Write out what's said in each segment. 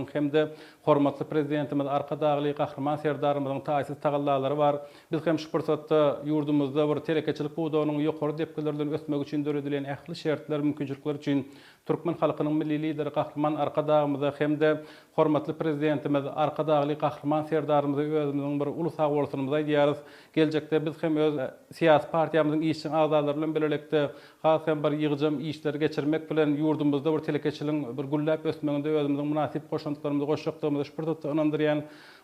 Gahrymanymyzyň hem-de hormatly Prezidentimiz Arkadagly Gahryman Serdarymyzyň taýsyz tagallalary bar. Biz hem şu pursatda ýurdumyzda bir telekeçilik pudagynyň ýokary depgiler bilen ösmegi üçin döredilen ähli şertler, mümkinçilikler üçin türkmen halkynyň Milli Lideri Gahryman Arkadagymyza hem-de hormatly Prezidentimiz Arkadagly Gahryman Serdarymyza özümiziň bir uly sagbolsunymyzy aýdýarys. Geljekde biz hem öz syýasy partiýamyzyň işjeň agzalary bilen birlikde Has hem bir ýygjam işleri geçirmek bilen, ýurdumyzda bir telekeçiligiň bir gülläp ösmeginde özümiziň mynasyp goşantlarymyzy goşjakdygymy şu pursatda ynandyrýan.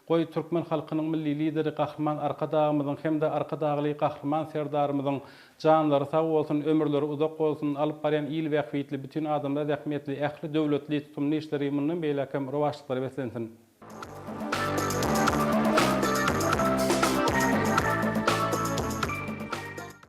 Goý, türkmen halkynyň Milli Lideri Gahryman Arkadagymyzyň hem-de Arkadagly Gahryman Serdarymyzyň janlary sag bolsun, ömürleri uzak bolsun, alyp barýan il bähbitli, bütin adamlar zähmetli ähli döwletli, tutumly işleri mundan beýläk hem rowaçlyklara beslensin!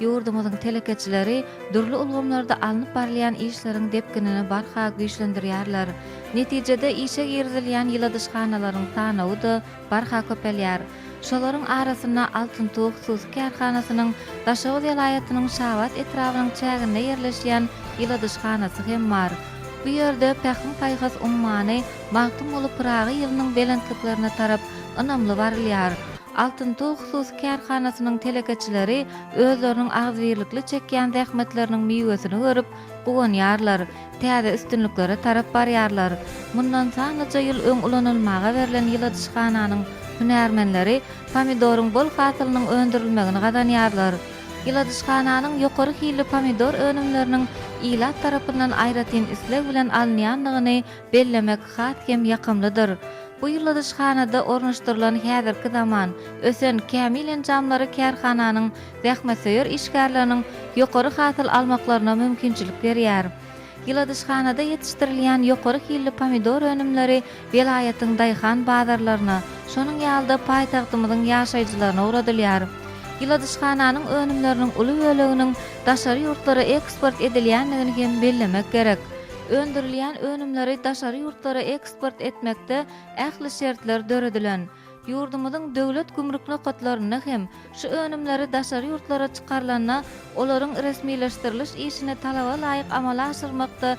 Ýurdumyzyň telekeçileri dürli ulgamlarda alnyp barylýan işleriň depginini barha güýçlendirýärler. Netijede, işe girizilýän ýyladyşhanalaryň sanawy-da barha köpelýär. Şolaryň arasynda Altyn tug hususy kärhanasynyň Daşoguz welaýatynyň Şabat etrabynyň çäginde ýerleşýän ýyladyşhanasy hem bar. Bu ýerde Pähim-paýhas ummany Magtymguly Pyragy ýylynyň belentliklerine tarap ynamly barylýar. Altyn tug hususy kärhanasynyň telekeçileri özleriniň agzybirlikli çekýän zähmetleriniň miwesini görüp, guwanýarlar, täze üstünliklere tarap barýarlar. Mundan sanlyja ýyl öň ulanylmaga berlen ýyladyşhananyň hünärmenleri pomidoryň bol hasylynyň öndürilmegini gazanýarlar. Ýyladyşhananyň ýokary hilli pomidor önümleriniň ilat tarapyndan aýratyn isleg bilen alynýandygyny bellemek has hem ýakymlydyr. Bu ýyladyşhanada ornaşdyrylan häzirki zaman, ösen, kämil enjamlary kärhananyň zähmetsöýer işgärleriniň ýokary hasyl almaklaryna mümkinçilik berýär. Ýyladyşhanada ýetişdirilýän ýokary hilli pomidor önümleri welaýatyň daýhan bazarlaryna, şonuň ýaly-da paýtagtymyzyň ýaşaýjylaryna ugradylýar. Ýyladyşhananyň önümleriniň uly böleginiň daşary ýurtlara eksport edilýändigini hem bellemek gerek. Öndürilýän önümleri daşary ýurtlara eksport etmekde ähli şertler döredilen. Ýurdumyzyň döwlet gümrük nokatlarynda hem şu önümleri daşary ýurtlara çykarylanda olaryň resmileşdiriliş işini talaba laýyk amala aşyrmakda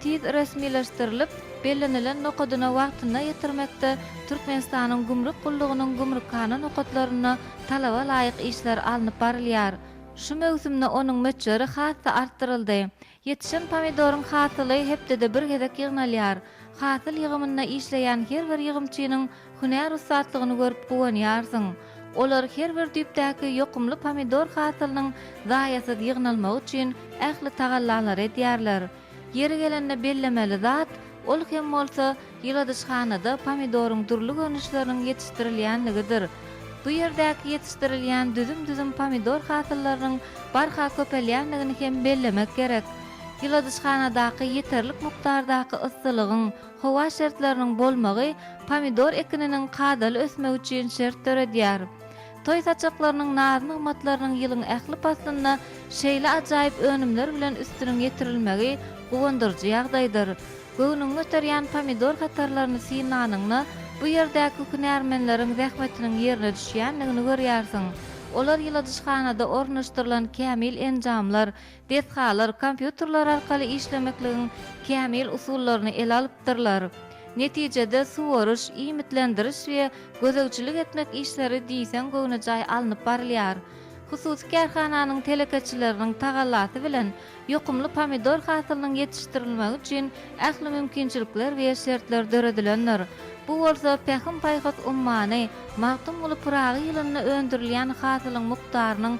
tiz resmileşdirilip, bellenilen nokadyna wagtynda ýetirmekde Türkmenistanyň Gümrük gullugynyň gümrükhana nokatlarynda talaba laýyk işler alnyp barylýar. Şu möwsümde onuň möçberi has-da artdyryldy. Ýetişen pomidoryň hasyly hepdede bir gezek ýygnalýar. Hasyl ýygymynda işleýän her bir ýygymçynyň hünär ussatlygyny görüp guwanýarsyň. Olar her bir düýpdäki ýokumly pomidor hasylynyň zaýasyz ýygnalmagy üçin ähli tagallalary edýärler. Ýeri gelende bellemeli zat, ol hem bolsa, Ýyladyşhanada pomidoryň dürli görnüşleriniň ýetişdirilýänligidir. Bu ýerdäki ýetişdirilýän düzüm-düzüm pomidor hasyllarynyň barha köpelýänligini hem bellemek gerek. Ýyladyşhanadaky ýeterlik mukdardaky yssylygyň, howa şertleriniň bolmagy pomidor ekininiň kadaly ösmegi üçin şert döredýär. Toý saçaklarynyň, naz-nygmatlarynyň ýylyň ähli paslynda şeýle ajaýyp önümler bilen üstüniň ýetirilmegi guwandyryjy ýagdaýdyr. Göwnüňi göterýän pomidor hatarlaryny synlanyňda, bu ýerdäki hünärmenleriň zähmetiniň ýerine düşýändigini görýärsiň. Olar ýyladyşhanada ornaşdyrylan kämil enjamlar, Desgalar kompýuterler arkaly işlemekligiň kämil usullaryny ele alypdyrlar. Netijede suwaryş, iýmitlendiriş we gözegçilik etmek işleri diýseň göwnejaý alnyp barylýar. Hususy kärhananyň telekeçileriniň tagallasy bilen ýokumly pomidor hasylynyň ýetişdirilmegi üçin ähli mümkinçilikler we şertler döredilendir. Bu bolsa Pähim-paýhas ummany Magtymguly Pyragy ýylynda öndürilýän hasylyň mukdarynyň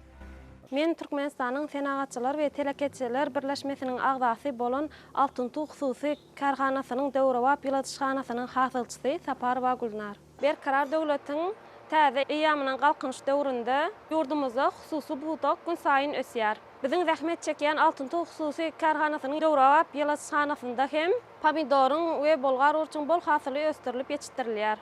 Men Türkmenistanyň Senagatçylar we telekeçiler birleşmesiniň agzasy bolan Altynsuw hususy kärhanasynyň döwrebap ýyladyşhanasynyň hasylçysy Saparowa Gülnar. Berkarar döwletiň täze eýýamynyň Galkynyş döwründe ýurdumyzda hususy pudak günsaýyn ösýär. Biziň zähmet çekýän Altynsuw hususy kärhanasynyň döwrebap ýyladyşhanasynda hem pomidoryň we bolgar burçuň bol hasyly ösdürilip ýetişdirilýär.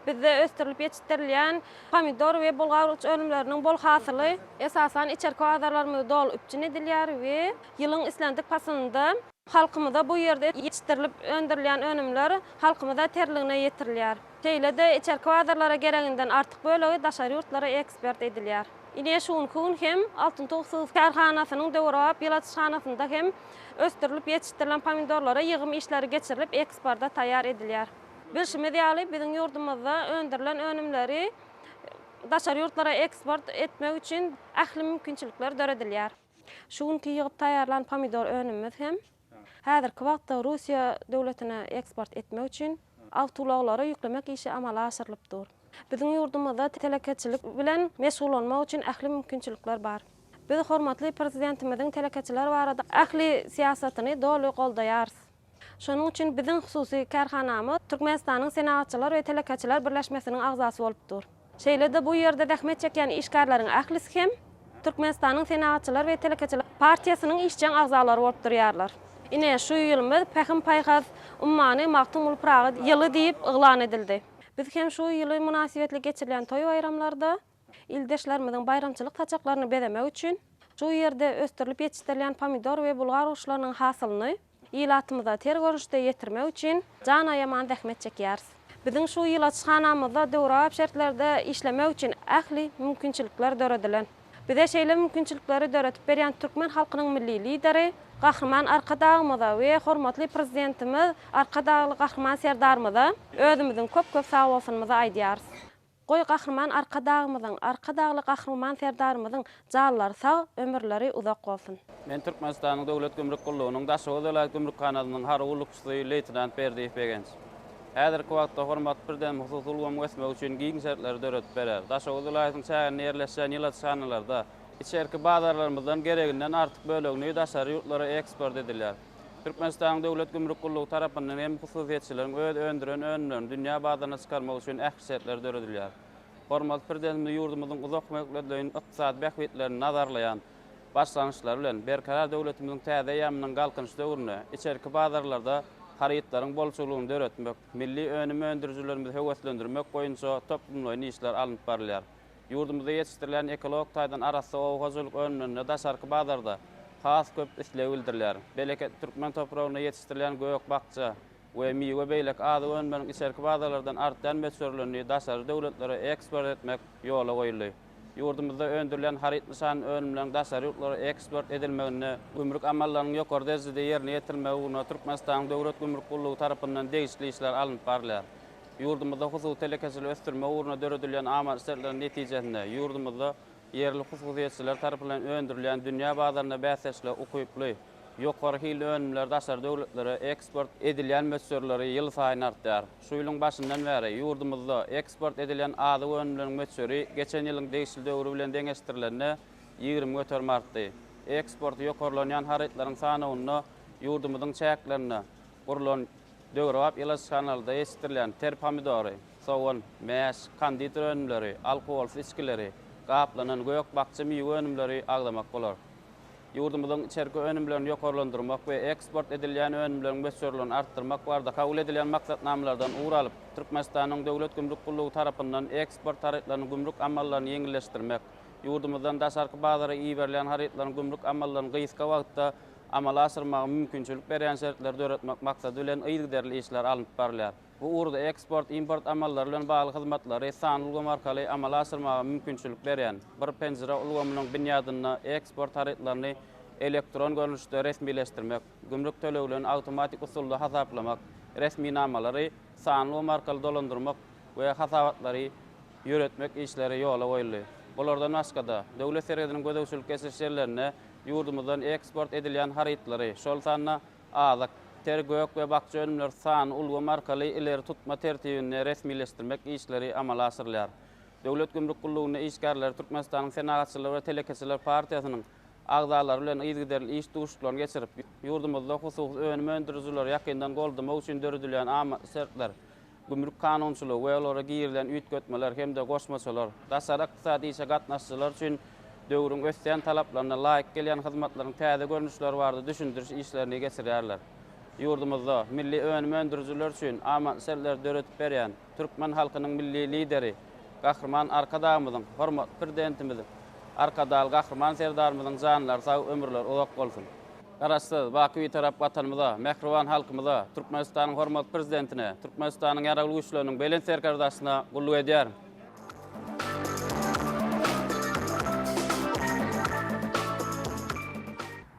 Bizde ösdürilip ýetişdirilýän pomidor we bulgar-uç önümleriniň bol hasyly, esasan, içerki bazarlarymyzda doly üpjün edilýär we ýylyň islendik paslynda halkymyza bu ýerde ýetişdirilip öndürilýän önümler halkymyza terligine ýetirilýär. Şeýle-de içerki bazarlara gereginden artyk bölegi daşary ýurtlara ekspert edilýär. Ine, şu günki gün hem Altyn tug sygyr kärhanasynyň döwrebap ýyladyşhanasynda hem ösdürilip ýetişdirilen pomidorlara ýygym işleri geçirilip, eksporta taýýar edilýär. Bilşimiz ýaly, biziň ýurdumyzda öndürilen önümleri daşary ýurtlara eksport etmek üçin ähli mümkinçilikler döredilýär. Şu günki ýygyp taýýarlan pomidor önümimiz hem häzirki wagtda Russiýa döwletine eksport etmek üçin awtoulaglara ýüklemek işi amala aşyrylyp dur. Biziň ýurdumyzda telekeçilik bilen meşgullanmak üçin ähli mümkinçilikler bar. Biz hormatly Prezidentimiziň telekeçiler barada ähli syýasatyny doly goldaýarys. Şonuň üçin biziň hususy kärhanamyz Türkmenistanyň Senagatçylar we telekeçiler birleşmesiniň agzasy bolup dur. Şeýle-de bu ýerde zähmet çekýän işgärleriň ählisi hem Türkmenistanyň Senagatçylar we telekeçiler partiýasynyň işjeň agzalary bolup durýarlar. Ine, şu ýylymyz Pähim-paýhas ummany Magtymguly Pyragy ýyly diýip yglan edildi. Biz hem şu ýyly mynasybetli geçirilýän toý-baýramlarda, Ildeşlerimiziň baýramçylyk saçaklaryny bezemek üçin şu ýerde ösdürilip ýetişdirilýän pomidor we bulgar guşlarynyň hasylyny ilatymyza ter görnüşde ýetirmek üçin jan aýaman zähmet çekýäris. Biziň şu ilaçhanamyzda döwrebap şertlerde işlemek üçin ähli mümkinçilikler döredilen. Bize şeýle mümkinçilikleri döredip berýän türkmen halkynyň Milli Lideri Gahryman Arkadagymyza we hormatly Prezidentimiz Arkadagly Gahryman Serdarymyza özümiziň köp-köp sagbolsunymyzy aýdýarys. Goý Gahryman Arkadagymyzyň, Arkadagly Gahryman Serdarymyzyň janlary sag, ömürleri uzak bolsun! Men Türkmenistanyň Döwlet gümrük gullugynyň Daşoguz welaýat gümrükhanasynyň harby gullukçysy, leýtenant Berdiýew Begenç. Häzirki wagtda hormatly Prezidentimiz hususy ulgamyň ösmegi üçin giň şertleri döredip berer. Daşoguz welaýatynyň çäginde ýerleşýän ýyladyşhanalarda içerki bazarlarymyzdan gereginden artyk bölegini daşary ýurtlara eksport edilýär. Türkmenistanyň Döwlet gümrük gullugy tarapyndan hem hususyýetçileriň öz öndüren önümlerini dünýä bazaryna çykarmak üçin ähli şertler döredilýär. Hormatly Prezidentimiz ýurdumyzyň uzak möhletleýin ykdysady bähbitlerini nazarlaýan başlangyçlary bilen, Berkarar döwletimiziň täze eýýamynyň Galkynyş döwründe içerki bazarlarda harytlaryň bolçulygyny döretmek, milli önüm öndürijilerimizi höweslendirmek boýunça toplumlaýyn işler alnyp barylýar. Ýurdumyzda ýetişdirilýän ekologik taýdan arassa oba hojalyk önümlerine daşarky bazarda has köp isleg bildirilýär. Bereketli türkmen topragynda ýetişdirilýän gök-bakja we miwe beýleki azyk önümleriň içerki bazarlardan artýan möçberlerini daşary döwletlere eksport etmek ýola goýuldy. Ýurdumyzda öndürilýän haryt nyşanly önümleriň daşary ýurtlara eksport edilmeginde, gümrük amallarynyň ýokary derejede ýerine ýetirilmegi ugrunda Türkmenistanyň Döwlet gümrük gullugy tarapyndan degişli işler alnyp barylýar. Ýurdumyzda hususy telekeçiligi ösdürmek ugrunda döredilýän amaly şertleriň netijesinde, ýurdumyzda ýerli hususyýetçiler tarapyndan öndürilýän dünýä bazarynda bäsdeşlige ukyply, ýokary hilli önümler daşary döwletlere eksport edilýän möçberleri ýylsaýyn artýar. Şu ýylyň başyndan bäri, ýurdumyzda eksport edilen azyk önümleriniň möçberi geçen ýylyň degişli döwri bilen deňeşdirilende, ýigrimi göterim artdy. Eksporty ýokarlanýan harytlaryň sanawynda ýurdumyzyň çäklerinde Gurlan döwrebap ýyladyş kanalda ýetişdirilýän ter pomidory, sogan, mäş, konditer önümleri, alkogolsyz içgileri, gaplanan gök-bakja miwe önümleri agzamak bolar. Ýurdumyzyň içerki önümlerini ýokarlandyrmak we eksport edilýän önümleriň möçberlerini artdyrmak barada kabul edilen maksatnamalardan ugur alyp, Türkmenistanyň Döwlet gümrük gullugy tarapyndan eksport harytlarynyň gümrük amallaryny ýeňilleşdirmek, ýurdumyzdan daşarky bazara iberilýän harytlaryň gümrük amallaryny gysga wagtda amala aşyrmaga mümkinçilik berýän şertleri döretmek maksady bilen yzygiderli işler alnyp barylýar. Bu ugurda eksport, import amallary bilen bagly hyzmatlary sanly ulgam arkaly amala aşyrmaga mümkinçilik berýän Bir penjire ulgamynyň binýadynda eksport harytlaryny elektron görnüşde resmileşdirmek, gümrük töleglerini awtomatik usulda hasaplamak, resminamalary sanly ulgam arkaly dolandyrmak we hasabatlary ýöretmek işleri ýola goýuldy. Bulardan başga-da, döwlet serhediniň gözegçilik geçiriş ýerlerinde Ýurdumyzdan eksport edilýän harytlary, şol sanda azyk, ter, gök we bakja önümleri sany ulgam arkaly ileri tutma tertibinde resmileşdirmek işleri amala aşyrylýar. Döwlet gümrük gullugynda işgärleri Türkmenistanyň Senagatçylar we telekeçiler partiýasynyň agzalary bilen yzygiderli iş duşuşyklaryny geçirip, ýurdumyzda hususy önüm öndürijileri ýakyndan goldamak üçin döredilýän amatly şertler, gümrük kanunçylygy we olara girilen üýtgetmeler hem-de goşmaçalar, daşary ykdysady işe gatnaşyjylar üçin döwrüň ösýän talaplaryna laýyk gelýän hyzmatlaryň täze görnüşleri barada düşündiriş işlerini geçirýärler. Ýurdumyzda milli önüm öndürijiler üçin amatly şertleri döredip berýän türkmen halkynyň Milli Lideri, Gahryman Arkadagymyzyň, hormatly Prezidentimiz Arkadagly Gahryman Serdarymyzyň janlary sag, ömürleri uzak bolsun! Garaşsyz, baky Bitarap Watanymyza, mähriban halkymyza, Türkmenistanyň hormatly Prezidentine, Türkmenistanyň Ýaragly Güýçleriniň Belent Serkerdasyna gulluk edýärin.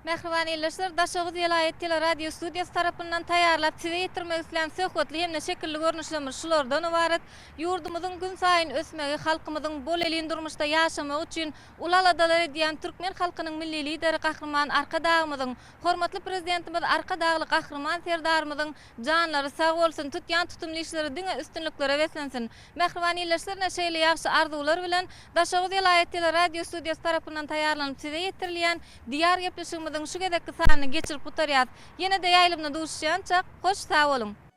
Mähriban ildeşler, Daşoguz welaýat teleradiostudiýasy tarapyndan taýýarlap size ýetirmek islän söhbetli hem-de şekilli görnüşlerimiz şulardan ybarat, ýurdumyzyň günsaýyn ösmegi, halkymyzyň bolelin durmuşda ýaşamagy üçin Uly aladalar edýän türkmen halkynyň Milli Lideri Gahryman Arkadagymyzyň, hormatly Prezidentimiz Arkadagly Gahryman Serdarymyzyň janlary sag bolsun, tutýan tutumly işleri diňe üstünliklere beslensin! Mähriban ildeşlerine şeýle ýagşy arzuwlar bilen, Daşoguz welaýat teleradiostudiýasy tarapyndan taýýarlanyp size ýetirilýän Diýar gepleşigimiziň şu gezekki sanyny geçirip gutarýas. Ýene-de ýaýlymda duşuşýançak, hoş sag boluň!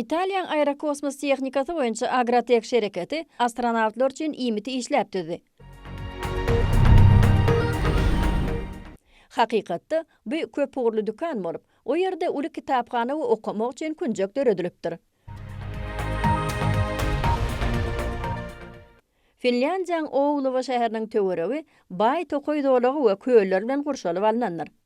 Italiýaň aerokosmos tehnikasy boýunça Agratech şereketi astronawtlar üçin iýmiti işläp düzdi. Hakykatda, bu köpugurly dükan bolup, o ýerde uly kitaphana we okamak üçin künjek döredilipdir. Finlýandiýaň Ouluwa şäheriniň töweregi baý tokaý zolagy we köller bilen gurşalyp alnandyr.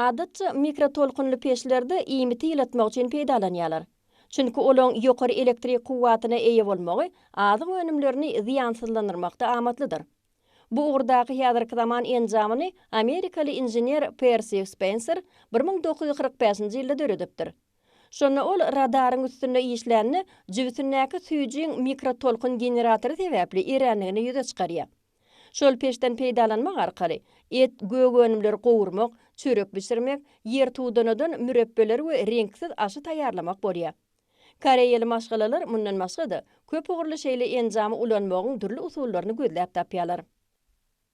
Adatça, mikrotolkunly peçlerde iýmiti ýylatmak üçin peýdalanýarlar. Çünki olaň ýokary elektrik kuwwatyna eýe bolmagy azyk önümlerini zyýansyzlandyrmakda amatlydyr. Bu ugurdaky häzirki zaman enjamyny amerikaly inžener Persi Spenser bir müň dokuz ýüz kyrk bäşinji ýylda döredipdir. Şonda ol radaryň üstünde işlände, jübüsindäki süýjüň mikrotolkun generatory sebäpli erändigini ýüze çykarýar. Şol peçden peýdalanmak arkaly, et, gök önümleri gowurmak, çörek bişirmek, ýertudanadan mürepbeler we reňksiz aşy taýýarlamak bolýar. Koreýaly maşgalalar mundan başga-da, köp ugurly şeýle enjamy ulanmagyň dürli usullaryny gözläp tapýarlar.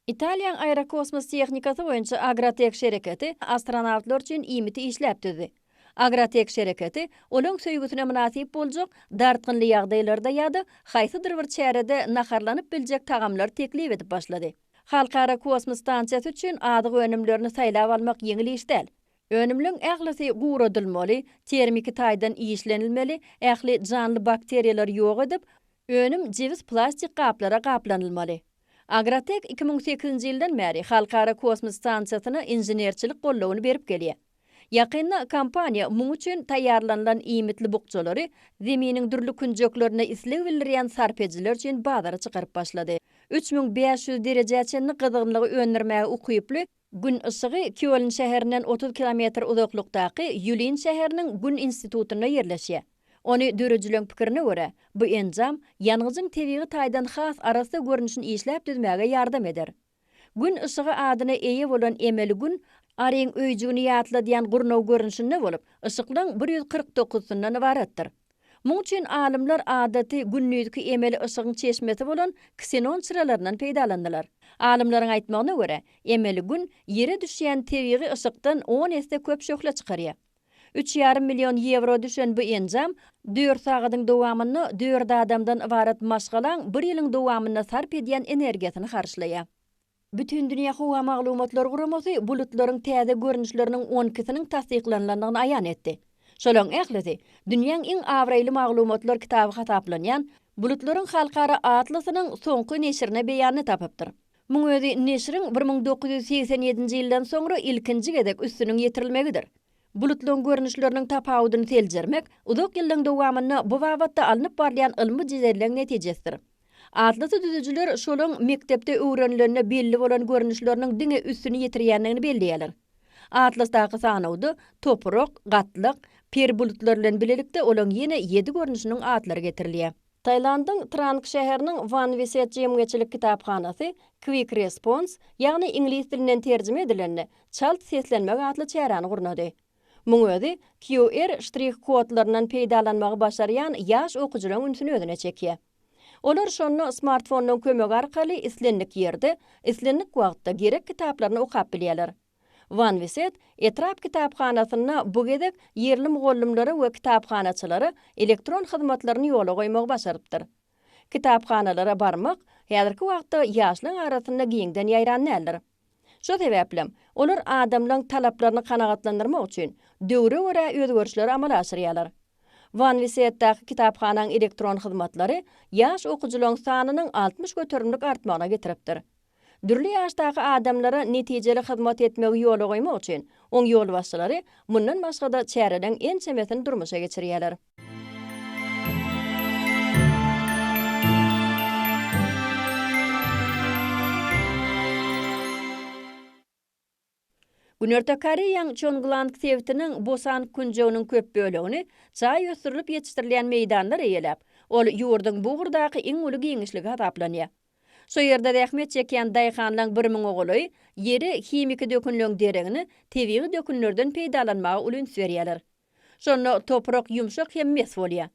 Italiýaň aerokosmos tehnikasy boýunça Agratex şereketi astronawtlar üçin iýmiti işläp düzdi. Agratex şereketi olaň söýgüsine mynasyp boljak, dartgynly ýagdaýlarda ýa-da haýsydyr bir çärede naharlanyp biljek tagamlary teklip edip başlady. Halkara kosmos stansiýasy üçin azyk önümlerini saýlap almak ýeňil iş däl. Önümleriň ählisi guradylmaly, termiki taýdan işlenilmeli, ähli janly bakteriýalary ýok edip, önüm jebis plastik gaplara gaplanylmaly. Agrotek iki müň sekizinji ýyldan bäri Halkara kosmos stansiýasyna inženerçilik goldawyny berip gelýär. Ýakynda kompaniýa muň üçin taýýarlanylan iýmitli bukjalary Zeminiň dürli künjeklerinde isleg bildirýän sarp edijiler üçin bazara çykaryp başlady. Üç müň bäş ýüz derejä çenli gyzgynlygy öndürmäge ukyply Gün yşygy Kýoln şäherinden otuz kilometr uzaklykdaky Ýulin şäheriniň Gün institutynda ýerleşýär. Ony dörejileriň pikirine görä, bu enjam ýangyjyň tebigy taýdan has arassa görnüşini işläp düzmäge ýardam eder. Gün yşygy adyna eýe bolan emeli Gün Aryň öýjügini ýatladýan gurnaw görnüşinde bolup, yşyklaryň bir ýüz kyrk dokuzysyndan ybaratdyr. Muň üçin alymlar adaty gündizki emeli yşygyň çeşmesi bolan ksenon çyralaryndan peýdalandylar. Alymlaryň aýtmagyna görä, emeli Gün Ýere düşýän tebigy yşykdan on esse köp şöhle çykarýar. Üç ýarym million ýewro düşen bu enjam dört sagadyň dowamynda dört adamdan ybarat maşgalaň bir ýylyň dowamynda sarp edýän energiýasyny harçlaýar. Bütindünýä howa maglumatlar guramasy bulutlaryň täze görnüşleriniň on ikisiniň tassyklanylandygyny aýan etdi. Şolaryň ählisi, dünýäň iň abraýly maglumatlar kitaby hasaplanýan Bulutlaryň halkara atlasynyň soňky neşirine beýanyny tapypdyr. Muň özi neşiriň bir müň dokuz ýüz segsen ýedinji ýyldan soňra ilkinji gezek üstüniň ýetirilmegidir. Bulutlaryň görnüşleriniň tapawudyny seljermek uzak ýyllaryň dowamynda bu babatda alnyp barylýan ylmy jedeleň netijesidir. Atlasy düzüjiler şolaň mekdepde öwrenilende belli bolan görnüşleriniň diňe üstüni ýetirýändigini belleýärler. Atlasdaky sanawda toprak, gatlak, per bulutlar bilen bilelikde olaň ýene ýedi görnüşiniň atlary getirilýär. Tailandyň Trang şäheriniň Wan Viset jemgyýetçilik kitaphanasy Quick Response, ýagny iňlis dilinden terjime edilende, çalt seslenmek atly çäräni gurnady. Muň özi QR ştrih-kodlaryndan peýdalanmagy başarýan ýaş okyjylaň ünsüni özüne çekýär. Olar şonda smartfonynyň kömegi arkaly islendik ýerde, islendik wagtda gerek kitaplaryny okap bilýärler. Wanwiset etrap kitaphanasynda bu gezek ýerli mugallymlara we kitaphanaçylara elektron hyzmatlaryny ýola goýmagy başarypdyr. Kitaphanalara barmak häzirki wagtda ýaşlaň arasynda giňden ýaýran däldir. Şo sebäplem, olar adamlaryň talaplaryny kanagatlandyrmak üçin, döwre görä özgerişleri amala aşyrýarlar. Wanwiseýetdäki kitaphanaň elektron hyzmatlary ýaş okyjylaryň sanynyň altmyş göterimlik artmagyna getiripdir. Dürli ýaşdaky adamlara netijeli hyzmat etmegi ýola goýmak üçin, oň ýolbaşçylary mundan başga-da çäreleň ençemesini durmuşa geçirýärler. Günorta Koreýaň Çongulang sebitiniň Bosan künjeginiň köp bölegini çaý ösdürilip ýetişdirilýän meýdanlar eýeläp, ol ýurduň bu ugurdaky iň uly giňişligi hasaplanýar. Şu ýerde zähmet çekýän daýhanlaryň bir müňe golaýy ýeri himiki dökünleň deregini tebigy dökünlerden peýdalanmaga uly üns berýärler. Şonda toprak ýumşak hem mes bolýar.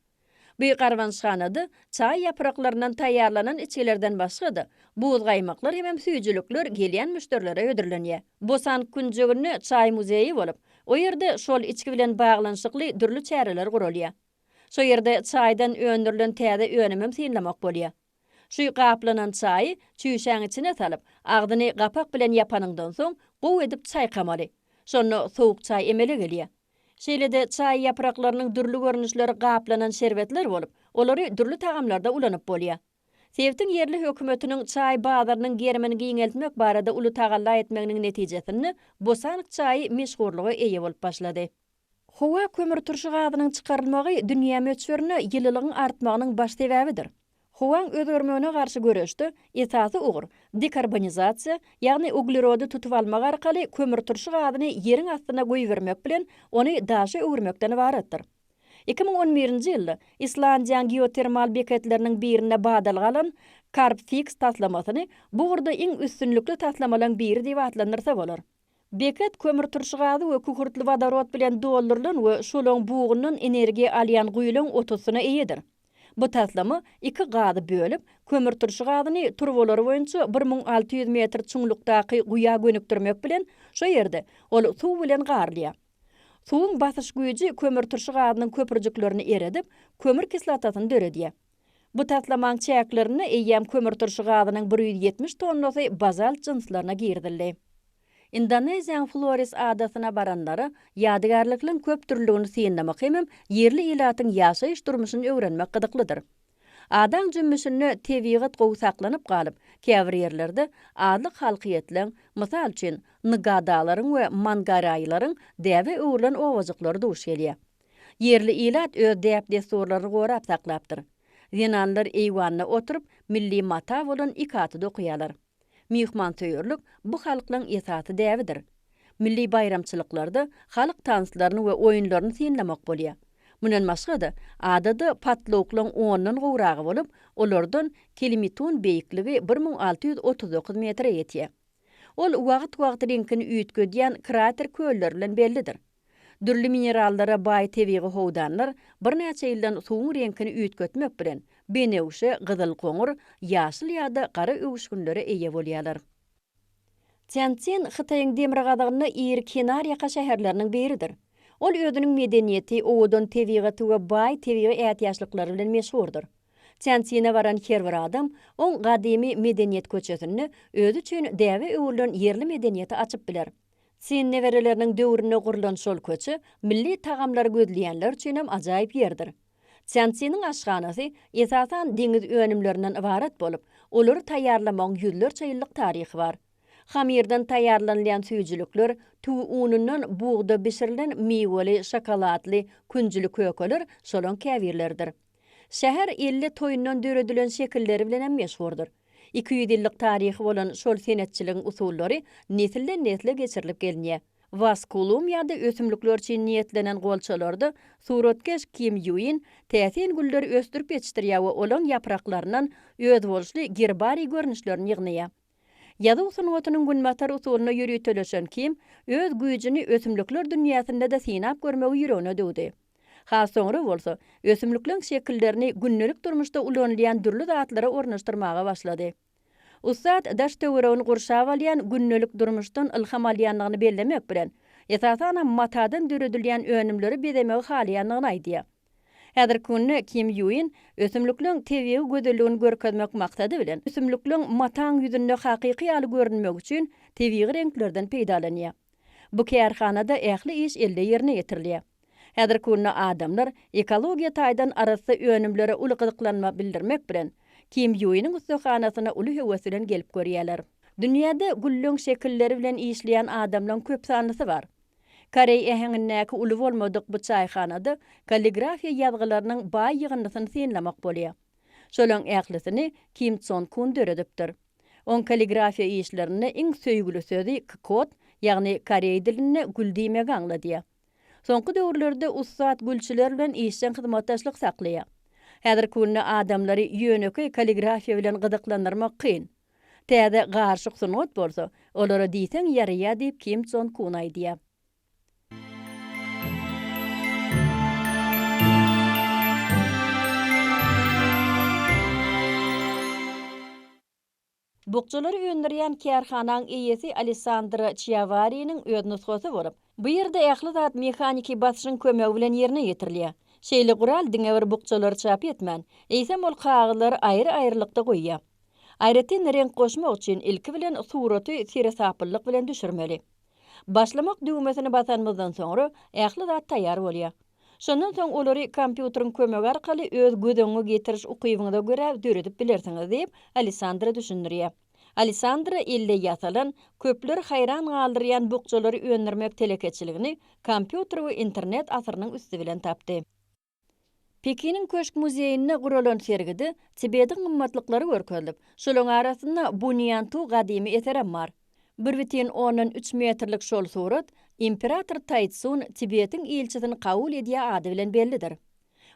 Bu garbanyşhanada çaý ýapraklaryndan taýýarlanan içgilerden başga-da, buzgaýmaklar hemem süýjülikler gelýän müşderilere hödürlenýär. Bosan künjeginde çaý muzeýi bolup, o ýerde şol içgi bilen baglanyşykly dürli çäreler guralýar. Şo ýerde çaýdan öndürilen täze önümem synlamak bolýar. Şu gaplanan çaýy çüýşäň içine salyp, agzyny gapak bilen ýapanyňdan soň, gowy edip çaýkamaly. Şonda sowuk çaý emele gelýär. Şeýle-de çaý ýapraklarynyň dürli görnüşleri gaplanan şerbetler bolup, olary dürli tagamlarda ulanyp bolýar. Sebitiň ýerli hökümetiniň çaý bazarynyň gerimini giňeltmek barada uly tagalla etmeginiň netijesinde bosank çaýy meşhurlyga eýe bolup başlady. Howa kömürturşy gazynyň çykarylmagy dünýä möçberinde ýylylygyň artmagynyň baş sebäbidir. Howaň özgermegine garşy göreşde esasy ugur dekarbonizasiýa, ýagny uglerody tutup almak arkaly kömürturşy gazyny ýeriň astyna goýbermek bilen ony daşa öwürmekden ybaratdyr. Iki müň on birinji ýylda Islandiýaň geotermal beketleriniň birinde badalga alan Carbfix taslamasyny bu ugurda iň üstünlikli taslamalaň biri diýip atlandyrsa bolar. Beýkek kömürturşy gazy we kükürtli wodorod bilen doldurylan we şolaň bugundan energiýa alýan guýulaň otusyna eýedir. Bu taslama iki gazy bölüp, kömürturşy gazyny turbalary boýunça bir müň alty ýüz metr çuňlukdaky guýa gönükdirmek bilen, şo ýerde ol suw bilen garylýar. Suwuň basyş güýji kömürturşy gazynyň köprüjiklerini eredip, kömür kislotasyny döredýär. Bu taslamaň çäklerinde eýýäm kömürturşy gazynyň bir ýüz ýetmiş tonnasy bazalt jynslaryna girizildi. Indoneziýanyň Flores adasyna baranlara ýadygärlikligiň köpdürlüligini synlamak hemem ýerli ilatyň ýaşaýyş-durmuşyny öwrenmek gyzyklydyr. Adaň jümmüşinde tebigat gowy saklanyp galyp, käbir ýerlerde azlyk halkyýetleň, mysal üçin, ngadalaryň we mangaraýylaryň däbe öwrülen obajyklary duş gelýär. Ýerli ilat öz däp-dessurlaryny gorap saklapdyr. Zenanlar eýwanda oturyp, milli mata bolan ikaty dokaýarlar. Myhmansöýerlik bu halklaryň esasy däbidir. Milli baýramçylyklarda halk tanslaryny we oýunlaryny synlamak bolýar. Mundan başga-da, adada patlawuklaryň ondan gowragy bolup, olardan Kilimitun beýikligi bir müň alty ýüz otuz dokuz metre ýetýär. Ol wagt-wagtlyňkyny üýtgedýän krater kölleri bilen bellidir. Dürli minerallara baý tebigy howdanlar birnäçe ýyldan suwuň reňkini üýtgetmek bilen, benewşe, gyzyl-goňur, ýaşyl ýa-da gara öwüşginlere eýe bolýarlar. Týanszin Hytaýyň demirgazygynda iri kenarýaka şäherleriniň biridir. Ol özüniň medeniýeti, owadan tebigaty we baý tebigy ätiýaçlyklary bilen meşhurdyr. Týanszine baran her bir adam oň gadymy medeniýet köçesinde özi üçin däbe öwrülen ýerli medeniýeti açyp biler. Çyn nebereleriniň döwründe gurlan şol köçe milli tagamlary gözleýänler üçin hem ajaýyp ýerdir. Çançiniň aşhanasy, esasan, deňiz önümlerinden ybarat bolup, olary taýýarlamagyň ýüzlerçe ýyllyk taryhy bar. Hamyrdan taýýarlanylýan süýjülikler, tüwi unundan, bugda bişirilen miweli, şokoladly, künjüli kökeler şolaň käbirleridir. Şäher elle toýundan döredilen şekilleri bilen hem meşhurdyr. Iki ýüz ýyllyk taryhy bolan şol senetçiligiň usullary nesilden-nesle geçirilip gelinýär. Waskulum ýa-da ösümlikler üçin niýetlenen golçalarda suratkeş Kim Ýuin täsin gülleri ösdürip ýetişdirýär we olaryň ýapraklaryndan özboluşly gerbariý görnüşlerini ýygnaýar. Ýazuw sungatynyň günbatar usulyna ýöriteleşen Kim öz güýjüni ösümlikler dünýäsinde-de synap görmegi ýüregine düwdi. Has soňra bolsa, ösümlikleň şekillerini gündelik durmuşda ulanylýan dürli zatlara ornaşdyrmaga başlady. Ussat daş-töweregini gurşap alýan gündelik durmuşdan ylham alýandygyny bellemek bilen, esasanam matadan döredilýän önümleri bezemegi halaýandygyny aýdýar. Häzirki günde Kim Ýuin ösümlikleň tebigy gözelligini görkezmek maksady bilen, ösümlikleň mataň ýüzünde hakyky ýaly görünmegi üçin tebigy reňklerden peýdalanýar. Bu kärhanada ähli iş elde ýerine ýetirilýär. Häzirki günde adamlar ekologiýa taýdan arassa önümlere uly gyzyklanma bildirmek bilen, Kim Ýuiniň ussahanasyna uly höwes bilen gelip görýärler. Dünýäde gülleň şekilleri bilen işleýän adamlaň köp sanlysy bar. Koreý äheňindäki uly bolmadyk bu çaýhanada kalligrafiýa ýazgylarynyň baý ýygyndysyny synlamak bolýar. Şolaň ählisini Kim Çon Kun döredipdir. Oň kalligrafiýa işlerinde iň söýgüli sözi kkot, ýagny koreý dilinde gül diýmegi aňladýar. Soňky döwürlerde ussat gülçüler bilen işjeň hyzmatdaşlyk saklaýar. Häzirki günde adamlary ýönekeý kalligrafiýa bilen gyzyklandyrmak kyn. Täze garyşyk sungat bolsa, olara diýseň ýaraýar diýip Kim Jon Kun aýdýar. Bukjalary öndürýän kärhanaň eýesi Alessandr Çiawariniň öz nusgasy bolup, bu ýerde ähli zat mehaniki basyşyň kömegi bilen ýerine ýetirilýär. Şeýle gural diňe bir bukjalary çap etmän, eýsem ol kagyzlary aýry-aýrylykda goýýar. Aýratyn reňk goşmak üçin ilki bilen suraty seresaplylyk bilen düşürmeli. Başlamak düwmesini basanymyzdan soňra ähli zat taýýar bolýar. Şondan soň olary kompýuteriň kömegi arkaly öz göz öňüňe getiriş ukybyňyza görä döredip bilersiňiz, diýip, Alessandra düşündirýär. Alessandra elde ýasalan, köpleri haýran galdyrýan bukjalary öndürmek telekeçiligini kompýuter we internet asyrynyň üsti bilen tapdy. Pekiniň Köşk muzeýinde guralan sergide Tibetiň gymmatlyklary görkezilip, şolaryň arasynda Bunýantu gadymy eserem bar. Bir bütin ondan üç metrlik şol surat Imperator Taýtsun Tibetiň ilçisini kabul edýär ady bilen bellidir.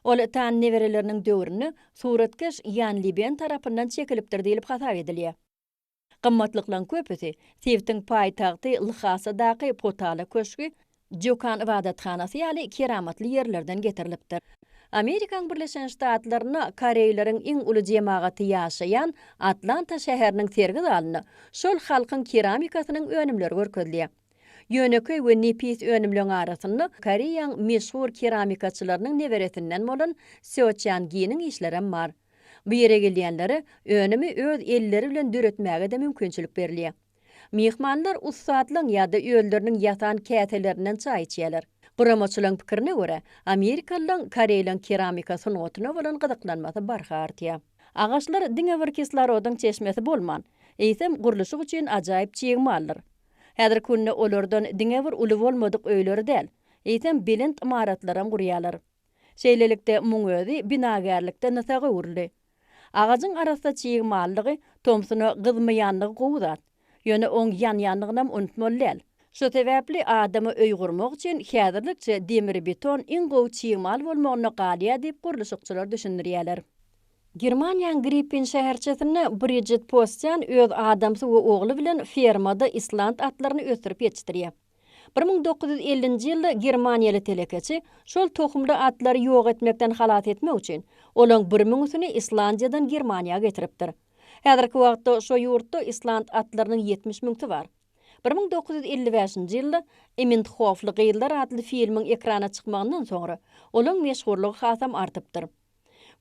Ol Tan nebereleriniň döwründe suratkeş Ýan Liben tarapyndan çekilipdir diýlip hasap edilýär. Gymmatlyklaryň köpüsi, sebtiň paýtagty Lhasadaky Potala köşgi, Jokan ybadathanasy ýaly keramatly ýerlerden getirilipdir. Amerikaň Birleşen Ştatlarynda koreýleriň iň uly jemagaty ýaşaýan Atlanta şäheriniň sergi zalynda şol halkyň keramikasynyň önümleri görkezilýär. Ýönekeý we nepis önümleň arasynda Koreýaň meşhur keramikaçylarynyň neberesinden bolan Seo Çan Giniň işlerem bar. Bu ýere gelýänlere önümi öz elleri bilen döretmäge-de mümkinçilik berilýär. Myhmanlar ussatlaň ýa-da özleriniň ýasan käselerinden çaý içýärler. Guramaçylaň pikirine görä, amerikalylaň koreýlaň keramika sungatyna bolan gyzyklanmasy barha artýar. Agaçlar diňe bir kislorodyň çeşmesi bolman, eýsem gurluşyk üçin ajaýyp çig maldyr. Häzirki günde olardan diňe bir uly bolmadyk öýleri däl, eýsem belent ymaratlaram gurýarlar. Şeýlelikde, muň özi binagärlikde nysa öwrüldi. Agajyň arassa çig mallygy, tomsuna gyzmaýanlygy gowy zat. Ýöne oň ýanýanlygynam unutmaly däl. Şu sebäpli adama öý gurmak üçin häzirlikçe demir-beton iň gowy çig mal bolmagynda galýar diýip, gurluşykçylar düşündirýärler. Germaniýanyň Grippin şäherçesinde Bridžit Postýan öz adamsy we ogly bilen fermada island atlaryny ösdürip ýetişdirýär. Bir müň dokuz ýüz ellinji ýylda germaniýaly telekeçi şol tohumly atlary ýok etmekden halas etmek üçin, olaň bir müňüsini Islandiýadan Germaniýa getiripdir. Häzirki wagtda şo ýurtda island atlarynyň ýetmiş müňsi bar. Bir müň dokuz ýüz elli bäşinji ýylda Imindhofly gyzlar atly filmiň ekrana çykmagyndan soňra, olaň meşhurlygy hasam artypdyr.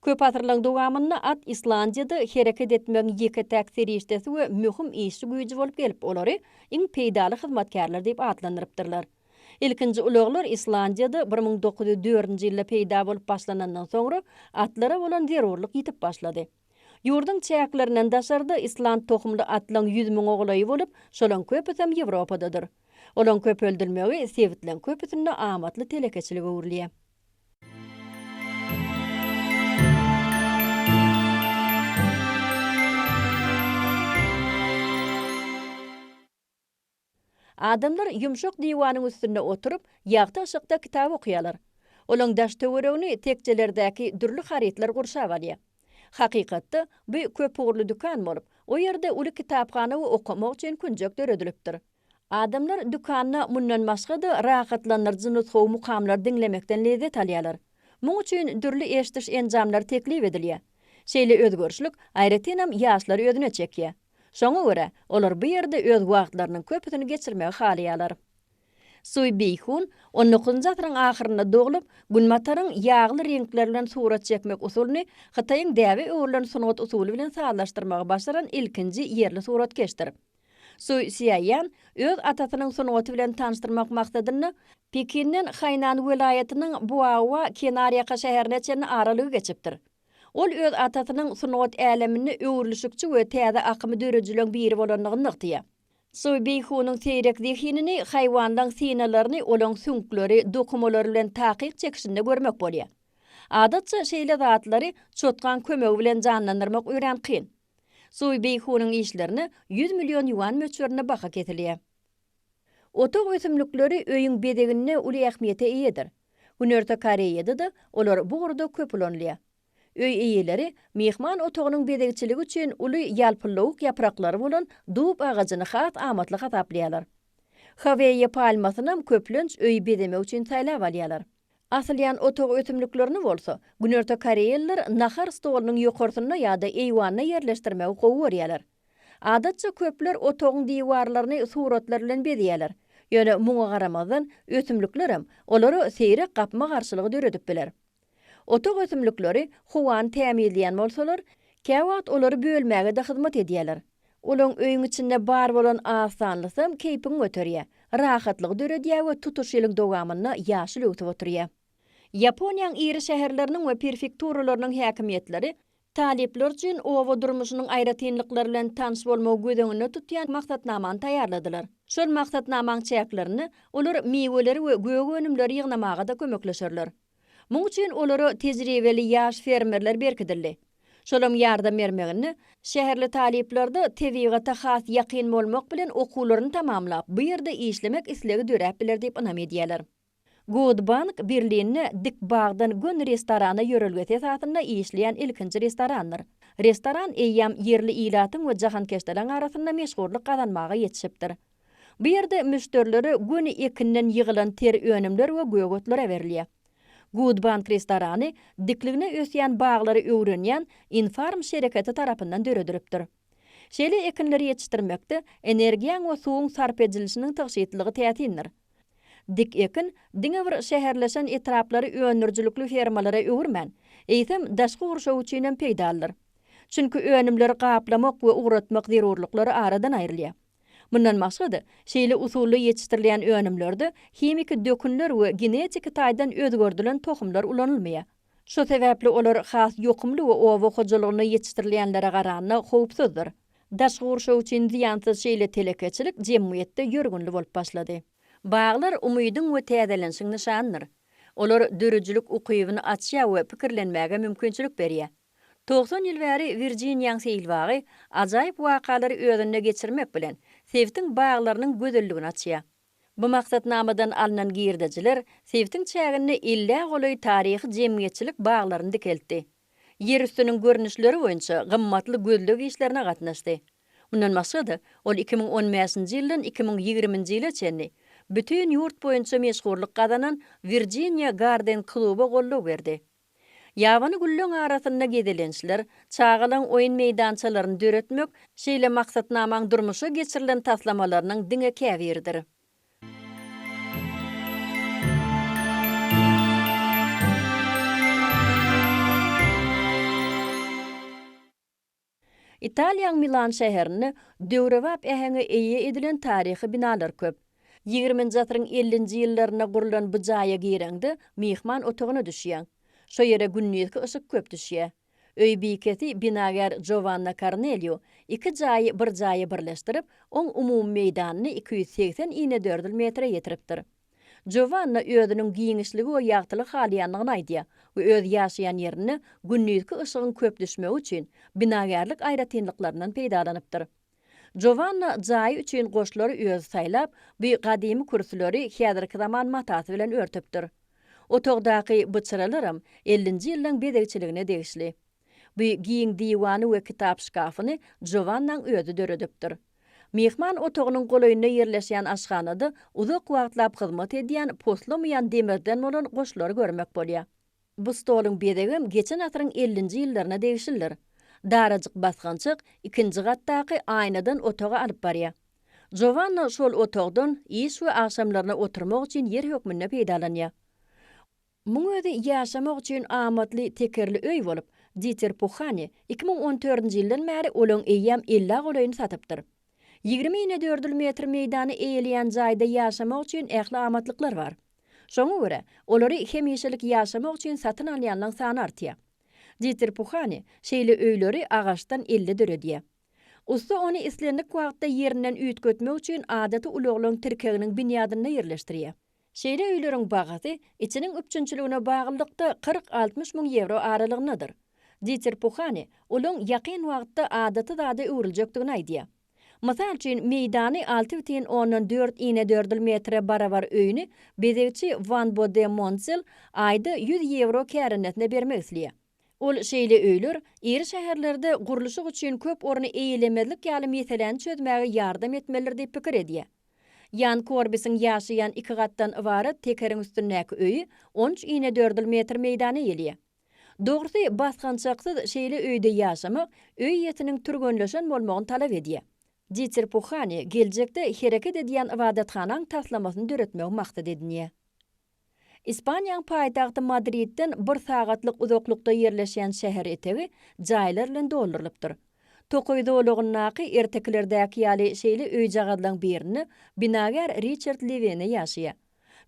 Köp asyrlaryň dowamynda at Islandiýada hereket etmegiň ýeke-täk serişdesi we möhüm işçi güýji bolup gelip, olary iň peýdaly hyzmatkärler diýip atlandyrypdyrlar. Ilkinji ulaglar Islandiýada bir müň dokuz ýüz dördünji ýylda peýda bolup başlanandan soňra, atlara bolan zerurlyk ýitip başlady. Ýurduň çäklerinden daşarda island tohumly atlaryň ýüz müňe golaýy bolup, şolaryň köpüsem Ýewropadadyr. Olaryň köpeldilmegi sebitleň köpüsinde amatly telekeçilige öwrülýär. Adamlar ýumşak diwanyň üstünde oturyp, ýagty yşykda kitap okaýarlar. Olaň daş-töweregini tekjelerdäki dürli harytlar gurşap alýar. Hakykatda, bu köpugurly dükan bolup, o ýerde uly kitaphana we okamak üçin künjek döredilipdir. Adamlar dükanda mundan başga-da rahatlandyryjy nusgawy mukamlary diňlemekden lezzet alýarlar. Muň üçin dürli eşidiş enjamlary teklip edilýär. Şeýle özgerişlik, aýratynam, ýaşlary özüne çekýär. Şoňa görä, olar bu ýerde öz wagtlarynyň köpüsini geçirmegi halaýarlar. Suý Beýhun on dokuzynjy asyryň ahyrynda doglup, Günbataryň ýagly reňkler bilen surat çekmek usulyny Hytaýyň däbe öwrülen sungat usuly bilen sazlaşdyrmagy başaran ilkinji ýerli suratkeşdir. Su Sziaýan öz atasynyň sungaty bilen tanyşdyrmak maksadynda Pekinden Hainan welaýatynyň Buaoa kenarýaka şäherine çenli aralygy geçipdir. Ol öz atasynyň sungat äleminde öwrülişikçi we täze akymy döredijileň biri bolandygyny nygtaýar. Su Beýhunyň seýrek zehinini haýwanlaň synalaryny olaň süňkleri, dokumalary bilen takyk çekişinde görmek bolýar. Adatça şeýle zatlary çotgaň kömegi bilen janlandyrmak örän kyn. Sui Beýhunyň işlerine ýüz million ýuan möçberinde baha kesilýär. Otag ösümlikleri öýüň bezeginde uly ähmiýete eýedir. Günorta Koreýada-da olar bu ugurda köp ulanylýar. Öý eýeleri myhman otagynyň bezegçiligi üçin uly ýalpyllawuk ýapraklary bolan dub agajyny has amatly hasaplaýarlar. Haweýe palmasynam köplenç öýi bezemek üçin saýlap alýarlar. Asylýan otag ösümliklerini bolsa, günorta koreýalylar nahar stolunyň ýokarsynda ýa-da eýwanda ýerleşdirmegi gowy görýärler. Adatça, köpler otagyň diwarlaryny suratlar bilen bezäýärler. Ýöne muňa garamazdan, ösümlikler hem olara seýrek gapma-garşylygy döredip biler. Otag ösümlikleri howany tämizleýän bolsalar, käwagt olary bölmäge-de hyzmat edýärler. Olaň öýüň içinde bar bolan az sanlysam keýpiňi göterýä, rahatlygy döredýä we tutuş ýylyň dowamynda ýaşyl öwsüp oturýa. Ýaponiýaň iri şäherleriniň we perfekturalarynyň häkimiýetleri talyplar üçin oba durmuşynyň aýratynlyklary bilen tanyş bolmagy göz öňünde tutýan maksatnamany taýýarladylar. Şol maksatnamaň çäklerinde olar miweleri we gök önümleri ýygnamaga-da kömekleşerler. Muň üçin olara tejribeli ýaş fermerler berkidildi. Şolaň ýardam bermeginde, şäherli talyplarda tebigata has ýakyn bolmak bilen okuwlaryny tamamlap, bu ýerde işlemek islegi döräp biler diýip ynam edýärler. Good Bank Berlinde Dik bagdan gön restorana ýörelgesi esasynda işleýän ilkinji restorandyr. Restoran eýýäm ýerli ilatyň we jahankeşderiň arasynda meşhurlyk gazanmaga ýetişipdir. Bu ýerde müşderilere göni ekinden ýygylan ter önümler we gögetler berilýär. Good Bank restorany dikligine ösýän baglary öwrenýän Infarm şereketi tarapyndan döredilipdir. Şeýle ekinleri ýetişdirmekde energiýaň we suwuň sarp edilişiniň tygşytlylygy täsindir. Dik ekin diňe bir şäherleşen etraplary öndürijilikli fermalara öwürmän, eýsem, daşky gurşaw üçin hem peýdalydyr. Çünki önümleri gaplamak we ugratmak zerurlyklary aradan aýrylýar. Mundan başga-da, şeýle usulda ýetişdirilýän önümlerde himiki dökünler we genetiki taýdan özgerdilen tohumlar ulanylmaýar. Şu sebäpli olar has ýokumly we oba hojalygynda ýetişdirilýänlere garanda howpsuzdyr. Daşky gurşaw üçin zyýansyz şeýle telekeçilik jemgyýetde ýörgünli bolup başlady. Baglar umydyň we täzelenişiň nyşanydyr. Olar döredijilik ukybyny açýar we pikirlenmäge mümkinçilik berýär. Togsan ýyl bäri Wirjiniýaň seýil bagy ajaýyp wakalary özünde geçirmek bilen, sebitiň baglarynyň gözelligini açýar. Bu maksatnamadan alnan girdejiler sebitiň çäginde ellä golaý taryhy jemgyýetçilik baglaryny dikeltdi. Ýerüstüniň görnüşleri boýunça gymmatly gözleg işlerine gatnaşdy. Mundan başga-da, ol iki müň on bäşinji ýyldan iki müň ýigriminji ýyla çenli bütin ýurt boýunça meşhurlyk gazanan Virjiniýa Garden kluba goldaw berdi. Ýabany gülleň arasynda gezelençler, çagalaň oýun meýdançalaryny döretmek şeýle maksatnamaň durmuşa geçirilen taslamalarynyň diňe käbiridir. Italiýaň Milan şäherinde döwrebap äheňe eýe edilen taryhy binalar köp. Ýigriminji asyryň ellinji ýyllarynda gurlan bu jaýa gireňde, myhman otagyna düşýäň. Şo ýere gündizki yşyk köp düşýär. Öý bikesi binagär Jovanna Kornelýu iki jaýy bir jaýa birleşdirip, oň umumy meýdanyny iki ýüz segsen inedördül metre ýetiripdir. Jovanna özüniň giňişligi we ýagtylyk halaýandygyny aýdýar we öz ýaşaýan ýerinde gündizki yşygyň köp düşmegi üçin binagärlik aýratynlyklaryndan peýdalanypdyr. Jovanna jaýy üçin goşlary özi saýlap, bu gadymy kürsüleri häzirki zaman matasy bilen örtüpdir. Otagdaky byçyralaram ellinji ýyllaň bezegçiligine degişli. Bu giň diwany we kitap şkafyny Jovannaň özi döredipdir. Myhman otagynyň golaýynda ýerleşýän aşhanada uzak wagtlap hyzmat edýän poslamaýan demirden bolan goşlary görmek bolýar. Bu stoluň bezegem geçen asyryň ellinji ýyllaryna degişlidir. Darajyk basgançak ikinji gatdaky aýnadan otaga alyp barýar. Jovanna şol otagdan iş we agşamlaryna oturmak üçin ýer hökmünde peýdalanýar. Muň özi ýaşamak üçin amatly tekerli öý bolup, Diter Puhani iki müň on dördünji ýyldan bäri olaň eýýäm ellä golaýyny satypdyr. Ýigrimi inedördül metr meýdany eýeleýän jaýda ýaşamak üçin ähli amatlyklar bar. Şoňa görä, olary hemişelik ýaşamak üçin satyn alýanlaň sany artýar. Diter Puhani şeýle öýleri agaçdan elde döredýär. Ussa ony islendik wagtda ýerinden üýtgetmek üçin adaty ulaglaň tirkeginiň binýadynda ýerleşdirýär. Şeýle öýleriň bahasy içiniň üpjünçiligine baglylykda kyrk-altmyş müň ýewro aralygyndadyr. Diter Puhane olaň ýakyn wagtda adaty zada öwrüljekdigini aýdýar. Mysal üçin, meýdany alty bütin ondan dört inedördül metre barabar öýüni bezegçi Wanbo de Montzel aýda ýüz ýewro kärendesyna bermek isleýär. Ol şeýle öýler iri şäherlerde gurluşyk üçin köp orny eýelemezlik ýaly meseläni çözmäge ýardam etmelidir diýip pikir edýär. Ýan Korbisiň ýaşaýan iki gatdan ybarat tekeriň üstündäki öýi on üç inedördül metr meýdana eýeleýär. Dogrusy, basgançaksyz şeýle öýde ýaşamak öý ýetiniň türgenleşen bolmagyny talap edýär. Diter Puhani geljekde hereket edýän ybadathanaň taslamasyny döretmegi maksat edinýär. Ispaniýaň paýtagty Madridden bir sagatlyk uzaklykda ýerleşýän şäher etegi jaýlar bilen doldurylypdyr. Tokaý zolagyndaky ertekilerdäki ýaly şeýle öýjagazlaň birinde binagär Riçard Lewene ýaşaýar.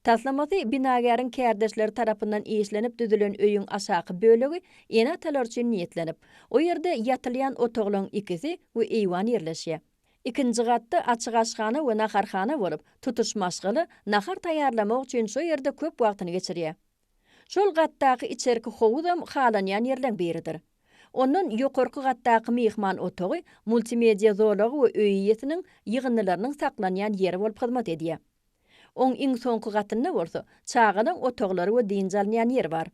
Taslamasy binagäriň kärdeşleri tarapyndan işlenip düzülen öýüň aşaky bölegi ene-atalar üçin niýetlenip, o ýerde ýatylýan otaglaryň ikisi we eýwan ýerleşýär. Ikinji gatda açyk aşhana we naharhana bolup, tutuş maşgala nahar taýýarlamak üçin şo ýerde köp wagtyny geçirýär. Şol gatdaky içerki howuzam halanýan ýerleň biridir. Ondan ýokarky gatdaky myhman otagy multimedia zolagy we öý eýesiniň ýygyndylarynyň saklanýan ýeri bolup hyzmat edýär. Oň iň soňky gatynda bolsa çagalaň otaglary we dynç alynýan ýer bar.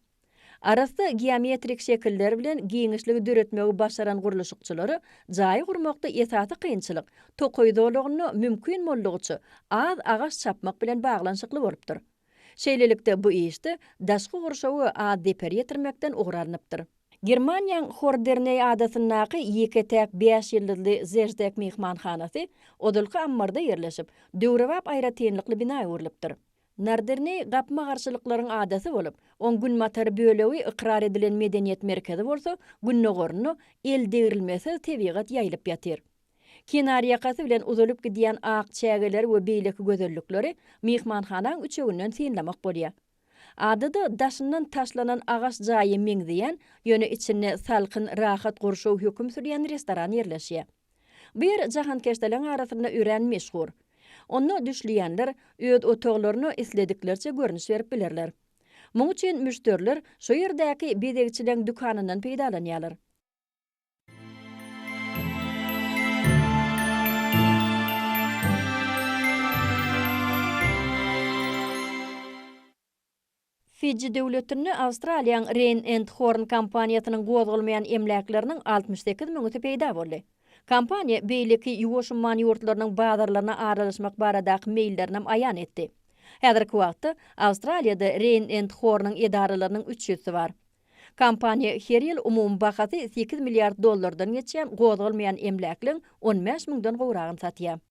Arassa geometrik şekiller bilen giňişligi döretmegi başaran gurluşykçylara jaýy gurmakda esasy kynçylyk tokaý zolagynda mümkin boldugyça az agaç çapmak bilen baglanyşykly bolupdyr. Şeýlelikde, bu işde daşky gurşawy az zeper ýetirmekden ugur alnypdyr. Germaniýaň Horderneý adasyndaky ýeke-täk bäş ýyldyzly Zeždek myhmanhanasy ozalky ammarda ýerleşip, döwrebap aýratynlykly bina öwrülipdir. Narderne gapma-garşylyklaryň adasy bolup, oň günbatar bölegi ykrar edilen medeniýet merkezi bolsa, gündogarynda eldegrilmesiz tebigat ýaýylyp ýatyr. Kenarýakasy bilen uzalyp gidýän ak çägeleri we beýleki gözellikleri myhmanhanaň üçeginden synlamak bolýar. Adada daşyndan taşlanan agaç jaýy meňzeýän, ýöne içinde salkyn, rahat gurşaw höküm sürýän restoran ýerleşýär. Bir jahankeşdeleň arasynda örän meşhur. Onda düşleýänler öz otaglaryna islediklerçe görnüş berip bilerler. Muň üçin müşderiler şo ýerdäki bezegçileň dükanyndan peýdalanýarlar. Fiji döwletinde Awstraliýaň Reýn and Horn kompaniýasynyň gozgalmaýan emläkleriniň altmyş sekiz müňüsi peýda boldy. Kompaniýa beýleki Ýuwaş umman ýurtlarynyň bazarlaryna aralaşmak baradaky meýillerinem aýan etdi. Häzirki wagtda Awstraliýada Reýn and Hornyň edaralarynyň üç ýüzsi bar. Kompaniýa her ýyl umumy bahasy sekiz milliard dollardan geçýän gozgalmaýan emläkleň on bäş müňden gowragyny satýar.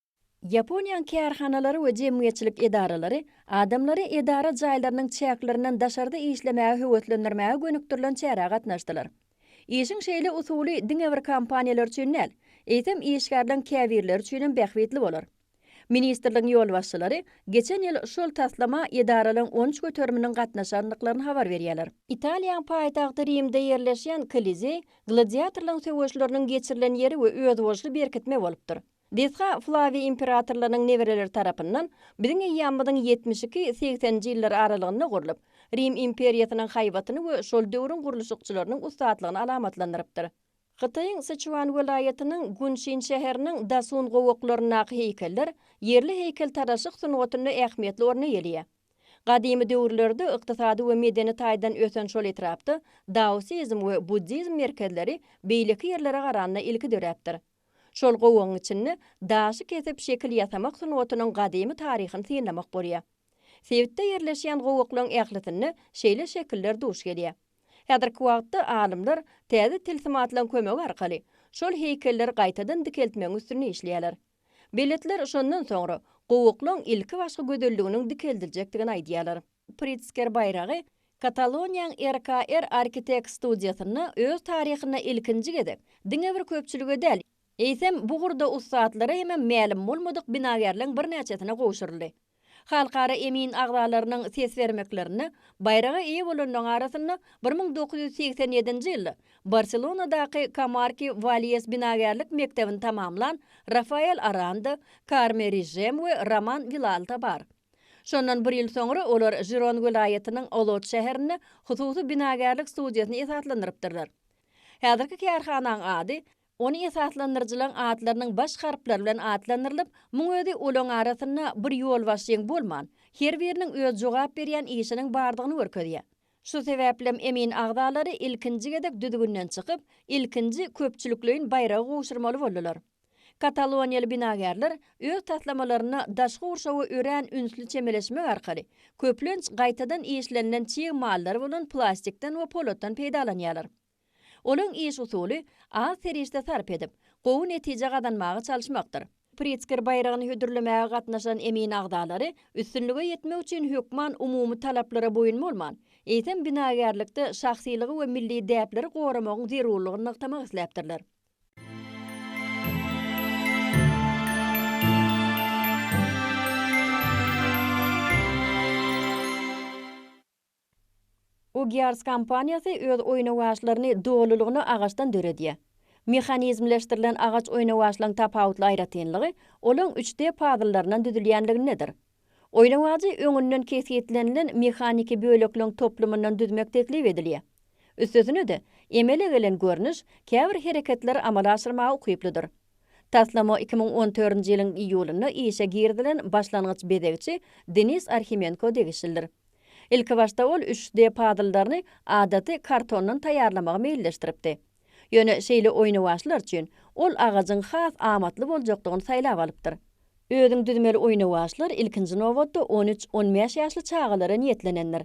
Ýaponiýanyň kärhanalary we jemgyýetçilik edaralary adamlary edara jaýlarynyň çäklerinden daşarda işlemäge höweslendirmäge gönükdirilen çärä gatnaşdylar. Işiň şeýle usuly diňe bir kompaniýalar üçin däl, eýsem işgärleň käbirleri üçinem bähbitli bolar. Ministrligiň ýolbaşçylary geçen ýyl şol taslama edaralaryň on üç göteriminiň gatnaşandyklaryny habar berýärler. Italiýanyň paýtagty Rimde ýerleşýän Kolizeý gladiatorlaryň söweşleriniň geçirilen ýeri we özboluşly berkitme bolupdyr. Desga Flawiý imperatorlarynyň nebereleri tarapyndan biziň eýýamymyzyň ýetmiş iki, segseninji ýyllar aralygynda gurlup, Rim imperiýasynyň haýbatyny we şol döwrüň gurluşykçylarynyň ussatlygny alamatlandyrypdyr. Hytaýyň Syçuan welaýatynyň Gunşin şäheriniň Dasun gowaklaryndaky heýkeller ýerli heýkeltaraşlyk sungatynda ähmiýetli orun eýeleýär. Gadymy döwürlerde ykdysady we medeni taýdan ösen şol etrapda daosizm we buddizm merkezleri beýleki ýerlere garanda ilki döräpdir. Şol gowagyň içinde daşy kesip şekil ýasamak sungatynyň gadymy taryhyny synlamak bolýar. Sebitde ýerleşýän gowaklaryň ählisinde şeýle şekiller duş gelýär. Häzirki wagtda alymlar täze tilsim atlan kömegi arkaly şol heýkelleri gaýtadan dikeltmegiň üstünde işleýärler. Beletler şondan soňra gowaklaryň ilkibaşky gözelliginiň dikeldiljekdigini aýdýarlar. Pritzker baýragy Kataloniýaň RKR Architects studiýasynda öz taryhynda ilkinji gezek diňe bir köpçülige däl, eýsem, bu ugurda ussatlara hemem mälim bolmadyk binagärleň birnäçesine gowşuryldy. Halkara emin agzalarynyň ses bermeklerinde baýraga eýe bolanlaryň arasynda bir müň dokuz ýüz segsen ýedinji ýylda Barselonadaky Kamarki Walýes binagärlik mekdebini tamamlan Rafael Aranda, Karme Rižem we Roman Wilalta bar. Şondan bir ýyl soňra olar Žiron welaýatynyň Olot şäherinde hususy binagärlik studiýasyny esaslandyrypdyrlar. Häzirki kärhanaň ady ony esaslandyryjylaň atlarynyň baş harplary bilen atlandyrylyp, muň özi olaň arasynda bir ýolbaşçyň bolman, her biriniň öz jogap berýän işiniň bardygyny görkezýär. Şu sebäplem emin agzalary ilkinji gezek düzgünden çykyp, ilkinji köpçülikleýin baýragy gowşurmaly boldular. Kataloniýaly binagärler öz taslamalaryna daşky gurşawa örän ünsli çemeleşmek arkaly, köplenç gaýtadan işlenilen çig emallary bolan plastikden we polatdan peýdalanýarlar. Olaryň iş usuly az serişde sarp edip, gowy netije gazanmaga çalyşmakdyr. Pritzker baýragyny hödürlemäge gatnaşan emin agzalary üstünlige ýetmek üçin hökman umumy talaplara boýun bolman, eýsem binagärlikde şahsylygy we milli däpleri goramagyň zerurlygyny nygtamak isläpdirler. Ugyars kompaniýasy öz oýnawaçlaryny dolulygyna agaçdan döredýär. Mehanizmleşdirilen agaç oýnawaçlaryň tapawutly aýratynlygy olaň üç D pazyllaryndan düzülýänligindedir. Oýnawajy öňünden kesgitlenilen mehaniki bölekleň toplumyndan düzmek teklip edilýär. Üstesine-de, emele gelen görnüş käbir hereketleri amala aşyrmaga ukyplydyr. Taslama iki müň on dördünji ýylyň iýulynda işe girizilen başlangyç bezegçi Denis Arhimenko degişlidir. Ilkibaşda ol üç D-pazzldaryny adaty kartondan taýýarlamagy meýilleşdiripdi. Ýöne şeýle oýnawaçlar üçin ol agajyň has amatly boljakdygyny saýlap alypdyr. Özüň düzmeli oýnawaçlar ilkinji nobatda on üç, on bäş ýaşly çagalara niýetlenendir.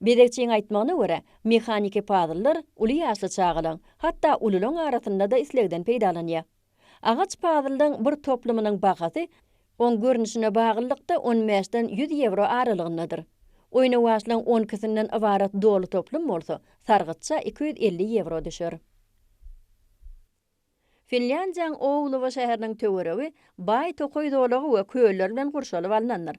Bezegçiň aýtmagyna görä, mehaniki pazllar uly ýaşly çagalaň, hatda ululaň arasynda-da islegden peýdalanýar. Agaç pazldyň bir toplumynyň bahasy oň görnüşine baglylykda on bäşden ýüz ýewro aralygyndadyr. Oýnawaçlaryň on ikisinden ybarat doly toplum bolsa, sargytça iki ýüz elli ýewro düşer. Finlýandiýanyň Ouluwa şäheriniň töweregi baý tokaý zolagy we köller bilen gurşalyp alnandyr.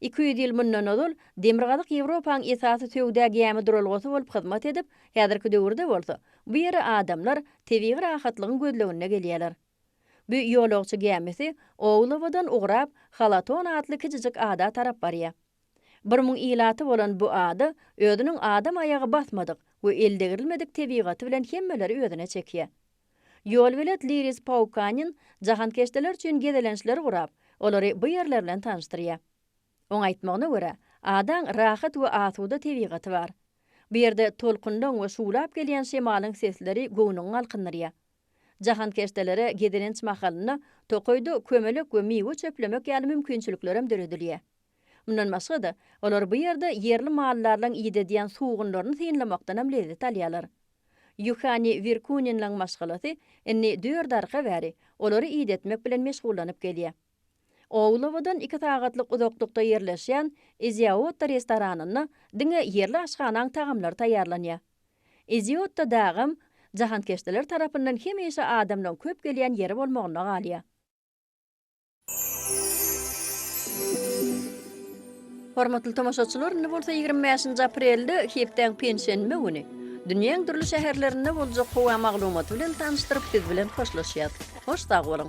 Iki ýüz ýyl mundan ozal, Demirgazyk Ýewropanyň esasy söwda gämi duralgasy bolup hyzmat edip, häzirki döwürde bolsa, bu ýere adamlar tebigy rahatlygyň gözleginde gelýärler. Bu ýolagçy gämisi Oulawadan ugrap, Halaton atly kiçijik ada tarap barýar. Bir müň ilaty bolan bu ada özüniň adam aýagy basmadyk we eldegrilmedik tebigaty bilen hemmeleri özüne çekýär. Ýolbelet Liris Paukanin jahankeşdeler üçin gezelençleri gurap, olary bu ýerler bilen tanyşdyrýar. Oň aýtmagyna görä, adaň rahat we asuda tebigaty bar. Bu ýerde tolkunlaň we şuwlap gelýän şemalyň sesleri göwnüňi galkyndyrýar. Jahankeşdelere gezelenç mahalynda tokaýda kömelek we miwe çöplemek ýaly mümkinçiliklerem döredilýär. Mundan başga-da, olar bu ýerde ýerli mallarlaň idedýän sugunlaryny synlamakdanam lezzet alýarlar. Ýuhani Wirkuninlaň maşgalasy indi dört arka bäri olary idetmek bilen meşgullanyp gelýär. Oulawadan iki sagatlyk uzaklykda ýerleşýän Iziaotta restoranynda diňe ýerli aşhanaň tagamlary taýýarlanýar. Iziaotta dagam jahankeşdeler tarapyndan hemişe adamlaň köp gelýän ýeri bolmagynda galýar. Hormatly tomaşaçylar, indi bolsa ýigrimi bäşinji aprelde, hepdäň penşenbe güni, dünýäň dürli şäherlerinde boljak howa maglumaty bilen tanyşdyryp, siz bilen hoşlaşýas. Hoş sag boluň!